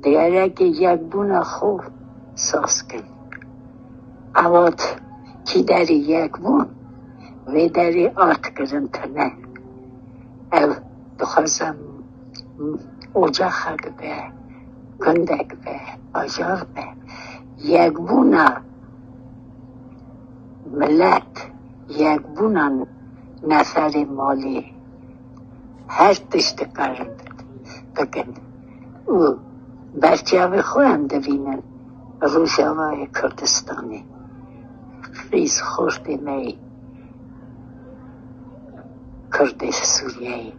Dêrekê yekbûna xwe saz kir. Ewat kî derê yek bûn, wê derê ard kirin tune. Ew dixwaze ocaxek be, gundek be, bajar be. Yekbûna milet, yekbûna neferê malê her tişt dikarin bikin. û berçavê xwe em divînin Rojavayê Kurdistanê xîz xortê me yê Kurdê Sûriyeyê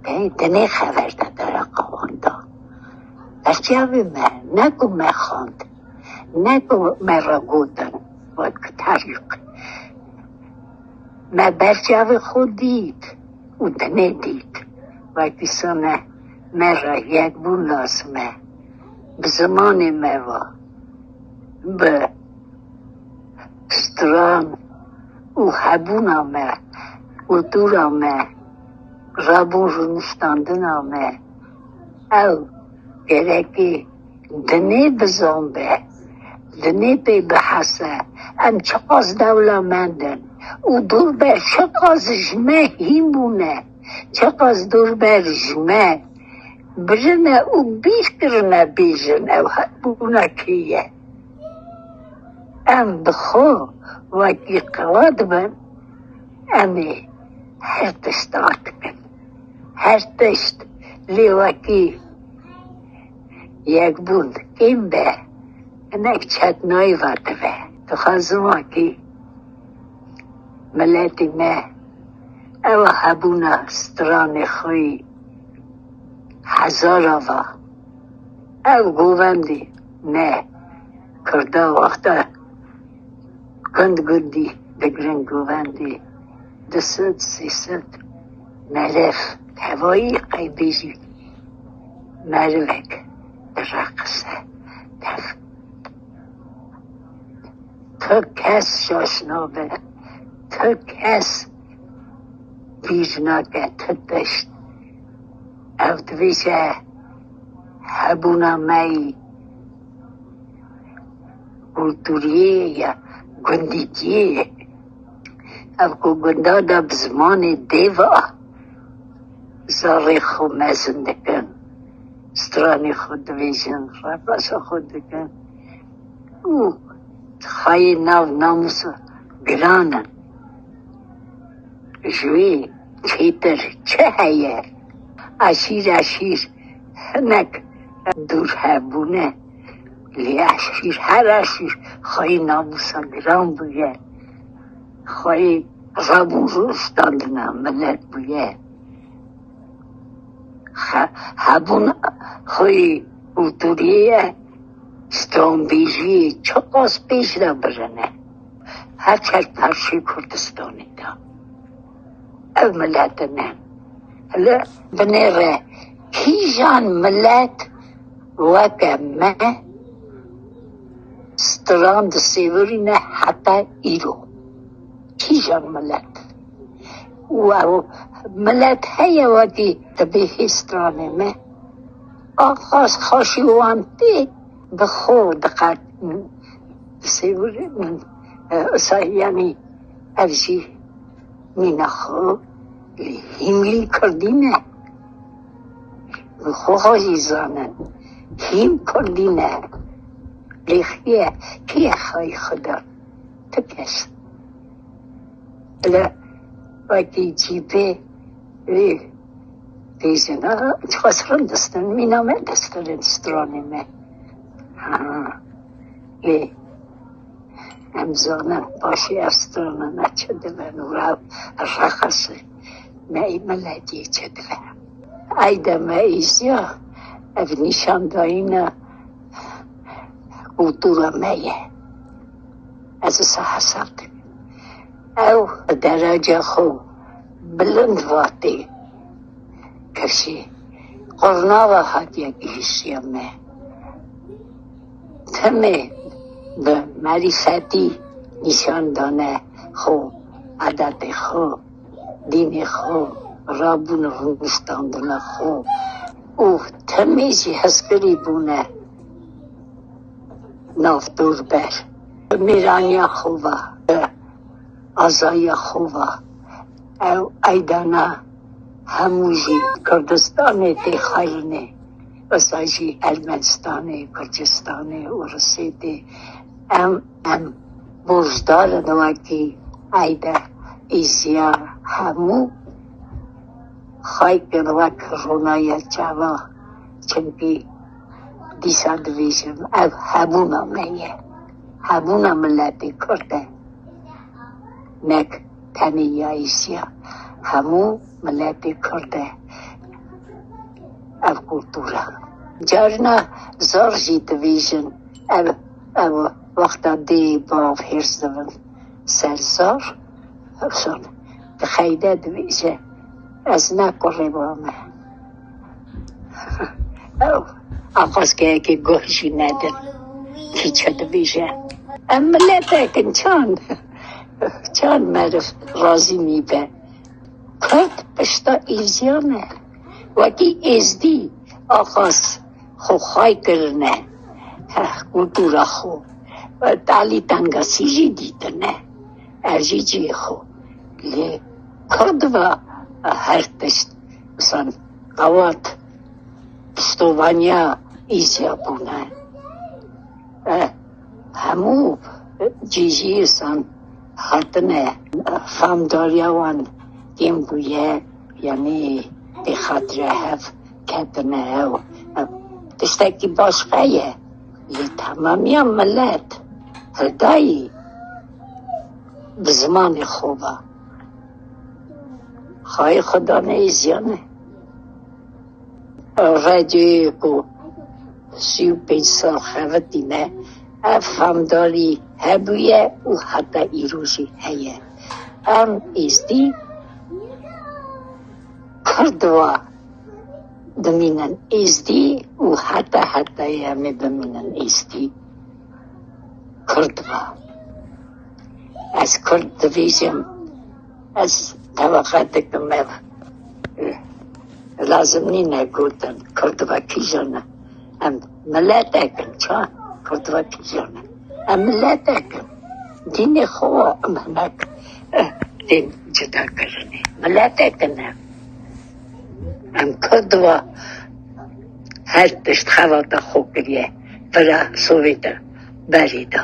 tê di nê xever de dereqawan da. Berçavê me ne ku me xwend ne ku me re gotin wek terîq me berçavê xwe dît û di nê dît wekî sona Me re yekbûn lazim e. Bi zimanê me ve, bi stran û hebûna me, kultura me, rabûn rûniştandina me, ew gerekê dinê bizan be, dinê pê bihese em çiqas dewlemend in û dûr be çiqas ji me hîn bûne. Çaqa ji dûr ber ji me birine û bîr kirine bêjin ew hebûna kî ye. Em bi xwe wekî qala dibin, em ê her tişt ard bikin. Her tişt lê wekî yekbûn kêm be, hinek çet nayê ve dibe. Dixwazim wekî miletê me. Ew hebûna stranê xwe yî hezar ava. Ev govendî ne Kurda wexta gund gundî digirin govendî du sed sê sed melev tevayî qey bêjî merivek direqise tev. Tu kes şaş nabe, tu kes bîr nake, tu tişt. Ev divêje hebûna me yî kulturiyê ye, gundîtiyê ye. Ev ku gunda de bi zimanê dê ve zarê xwe mezin dikin, stranê xwe dibêjin, reqaşa xwe dikin. û xayê nav namûs û giran in. Ji wî çêtir çi heye? Eşîr eşîr hinek dûr hebûne lê eşîr her eşîr xayê namûsa giran bûye, xayê rev û rû standina milet bûye. Hebûn xayê kulturê ye. Stranbêjiyê çiqas pêş de birin e, her çar parçeyê Kurdistanê de ev miletin e. Li binê re kîjan milet weke me stran disêvirîne heta îro? Kîjan milet? Û ew milet heye wekî dibê hê stranê me? Axas xaşî wan tê bi xwe diqet min sêwir min isayanî ev jî nîna xwe lê hîmlî kurdî ne xwe xwe jî zanin hîm kurdî ne lê xîye kîye xayî xwe da ti kes li wekî cî bê. Lê têjin a çiqas rind distin mîna me distirin stranê me. Ha. Lê em zanin başî ev strana me çi dibe û ev reqesê me ê miletî çi dibe. Ey de me îziya ev nîşandayîna kultura me ye. Ez wisa hesab dikim. Ew bi dereca xwe bilind vatê kişî qurnava hatiye gihîştiya me. Timê bi merîfetî nîşan dane xwe, edetê xwe, dînê xwe, rabûn û rûniştandina xwe û timê jî hezkirî bûne. nav dûr ber, bi mêraniya xwe ve, bi azayiya xwe ve ew eydana hemû jî Kurdistanê tê xwerinê, wisa jî Ermenistanê, Kurdistanê û Rusê tê. Em em borcdar in wekî eyda îziya hemû xelk in wek ronayiya çavan, çimkî. Dîsa dibêjim ev hebûna me ye, hebûna miletê Kurd e. Nek tenê ya Êşiya, hemû miletê Kurd e ev kultura. Carina zor jî dibêjin ev ew wexta dê bav hêrs dibin ser zor son. Xeyde dibêje ez ne kurê ba me. Ew axwazkeyekê guh jî nedin kîçe dibêje. Em miletek in çand çand meriv razî nîbe. Kurd pişta Êziyan e. Wekî Êzdî axwaz xwe xay kirine kultura xwe. Talî tengasî jî dîtine ev jî cihê xwe. Lê kurd ve her tişt. San awat pistovaniya îzya bûne. E, hemû cîjiyê san hatine famdariya wan yên bûye yanî bê xatire hev ketine ew e, tiştekî baş ve ye lê temamiya milet, hidayî bi zimanê xwe ve. Xayê xwe dane êziyane. Radyoyê ku sî û pênc sal xebitîne ev famdarî hebûye û heta îro jî heye. Em êzdî kurd wa dimînin êzdî û heta hetayê em ê bimînin êzdî kurd wa. Ez kurd dibîjim, ez teveqe dikim ev lazim nîne gotin kurd ve kîjan e. Em miletek in çima kurd ve kîjan e. Em miletek in. Dînê xwe wa em hinek eh, tên cida kirinê. Miletek in em. Em kurd ve her tişt xewa te xwe kiriye. Bira Sovêta berî da.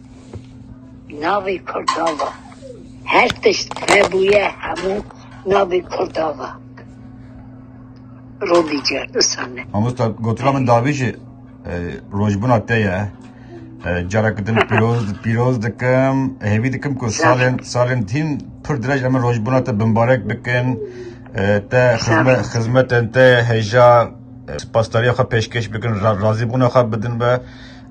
Navê Kurda va. Her tişt hebûye hemû navê Kurda va. Robî Cerdisane. Mamosta gotina min dabî jî e, rojbûna te ye. E, Cara ku din pîroz pîroz dikim, hêvî dikim ku salên salên tîn pir dirêj em rojbûna te bimbarek bikin. E, Te xizmet xizmetên te hêja e, spasdariya xwe pêşkêş bikin, ra- razîbûna xwe bidin be.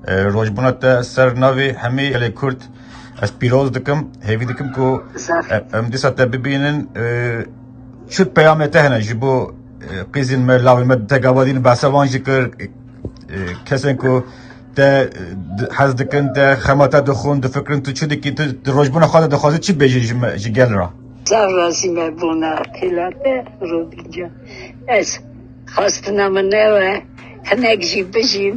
Rojbûna te ser navê hemî gelê Kurd ez pîroz dikim. Hêvî dikim ku em dîsa te bibînin. Çi peyamê te hene ji bo qîzên me lawên me te gavadîn behsa wan jî kir kesên ku te hez dikin te xema te dixwin difikirin tu çi dikî tu di rojbûna xwe de dixwazî çi bêjî ji me ji gel re. Sağ razime bona têlate Rodîca ez Xwestina min ew e hinek jî bijîn,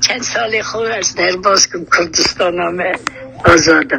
çend salê xwe ez derbas kim Kurdistana me azad e.